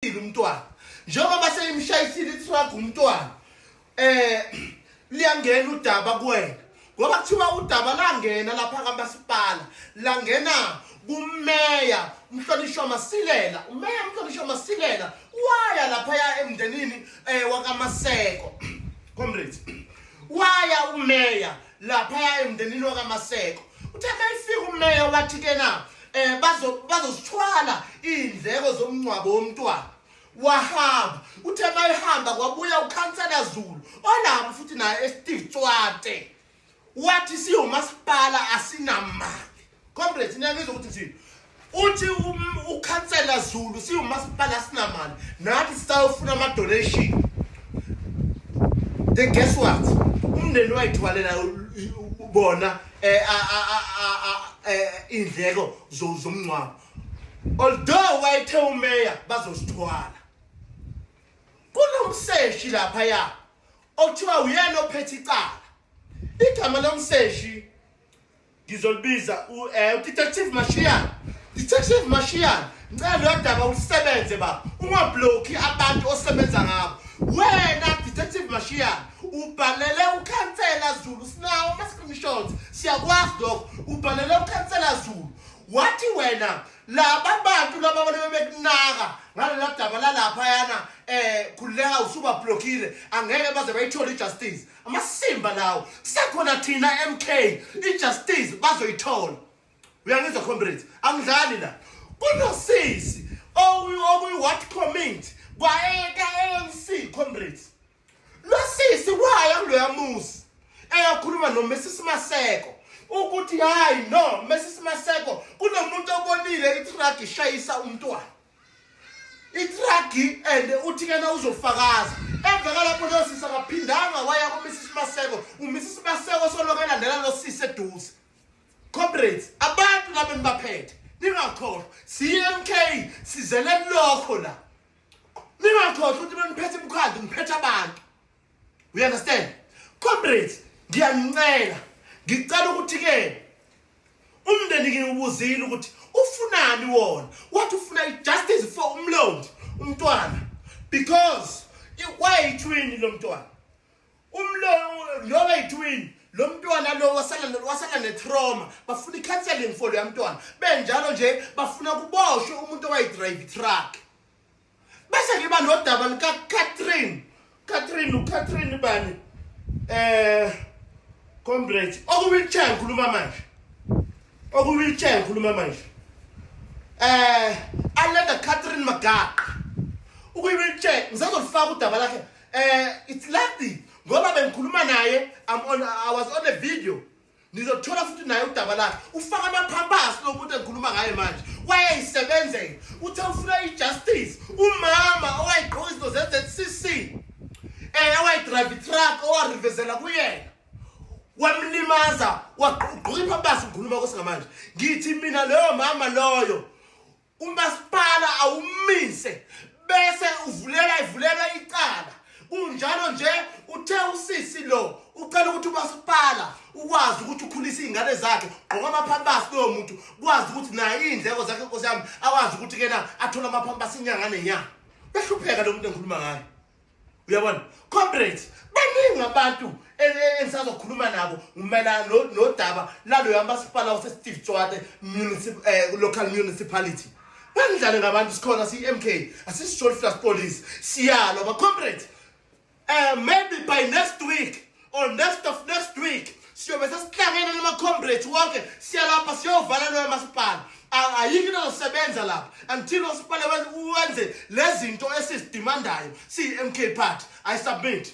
seyimshayisile umntwana njengoba seyimshayisile itruck umntwana eh liyangena udaba kuwena ngoba kuthiwa udaba langena lapha kamasipala langena kumeya umhlonishwa masilela umeya umhlonishwa masilela waya lapha ya emndenini eh wakamaseko comrades waya umeya laphaya emndenini wakamaseko uthe mayifika umeya wathi kena eh bazo bazosithwala indleko zomncwabo womntwana wahamba uthe mayihamba kwabuya ukhansela Zulu olapho futhi naye eSteve Tswate wathi siyomasipala asinamali Comrades niyangizwa ukuthi ngithini. Uthi ukhansela Zulu siwumasipala sinamali nathi sisayofuna ama donation. Then guess what? Umndeni wayithwalela bona eh indleko zomngcwabo. Although wayethe umeya bazosithwala. Kunomseshi lapha ya. Okuthiwa uyena ophethe icala. Igama lomseshi ngizolibiza u eh u detective Mashian detective Mashian ngicela lodaba usebenze baba ungablocki abantu osebenza ngabo wena detective Mashian ubhalele ukhansela Zulu sinawo ama screenshots siyakwazi lokho ubhalele ukhansela Zulu wathi wena laba bantu laba balebe bekunaka ngalela daba lalapha yana eh khuleka usuba blockile angeke baze bayithole ijustice amasimba lawo kusekhona thina MK ijustice bazoyithola uyangizwa comrades angidlali la kunosisi okuyi-what comment kwaeka-anc comrades lo sisi waya kuloya muzi eyakhuluma nomesisi maseko ukuthi hayi no mesisi maseko kunomuntu obonile itragi ishayisa umntwana itragi and uthi ke na uzofakaza emva kalapho leyo sisi akaphindanga waya kumisisi maseko umisisi maseko soloke elandela lo sisi eduze comrades abantu laba enibaphethe ningakhohlwa cmk sizele lokho la ningakhohlwa ukuthi beniphethe imkhandlu niphethe abantu you understand comrades ngiyanicela ngicela ukuthi ke umndeni ngiwubuzile ukuthi ufunani wona wathi ufuna ijustice for umlondi umntwana because wayitwin lo mntwana umlo lo wayitwin lo mntwana lo wasala wasala netrauma bafuna icounseling for lo mntwana benjalo nje bafuna kuboshwe umuntu owayidrayive truck bese ngiba nodaba lika Catherine Catherine u Catherine bani eh comrade oku wheelchair ngikhuluma manje oku wheelchair ngikhuluma manje eh alenda Catherine Magaqa uku wheelchair ngizozolifaka udaba lakhe eh it's lucky ngoba bengikhuluma naye i'm on i was on a video nizothola futhi naye udaba lakhe ufaka amaphampasi lo muntu engikhuluma ngaye manje wayeyisebenzela uthe ufuna i-justice umama owayigqoka izinto ze-zcc um eh, owayidrayive itruck owarivezela kuyena wamlimaza wagqoka iphampasi ngikhuluma kwesingamanje ngithi mina loyo mama loyo umasipala awumise bese uvulela ivulelwa icala kunjalo nje uthe usisi lo ucela ukuthi umasipala ukwazi ukuthi ukhulise iy'ngane zakhe gqoka amaphampasi loyo muntu kwazi ukuthi naye iy'ndleko zakhe nkosi yami akwazi ukuthi kena athole amaphampasi inyanga nenyanga behlupheka lo muntu engikhuluma ngayo uyabona comrades baningi abantu e, e, engisazokhuluma nabo umayelana nodaba laloya masipala wasesteve tswate eh, local municipality banidlale ngabantu sikhona siyi-m k asisijoliflas police siyalwa bacomrades um eh, maybe by next week on next of next week siyobe sesihlangene namacomrades wonke siyalapha siyovala loyo masipala ayikho into ezosebenza lapha until osipale wenze lezi zinto esizidimandayo siyi-m k party i submit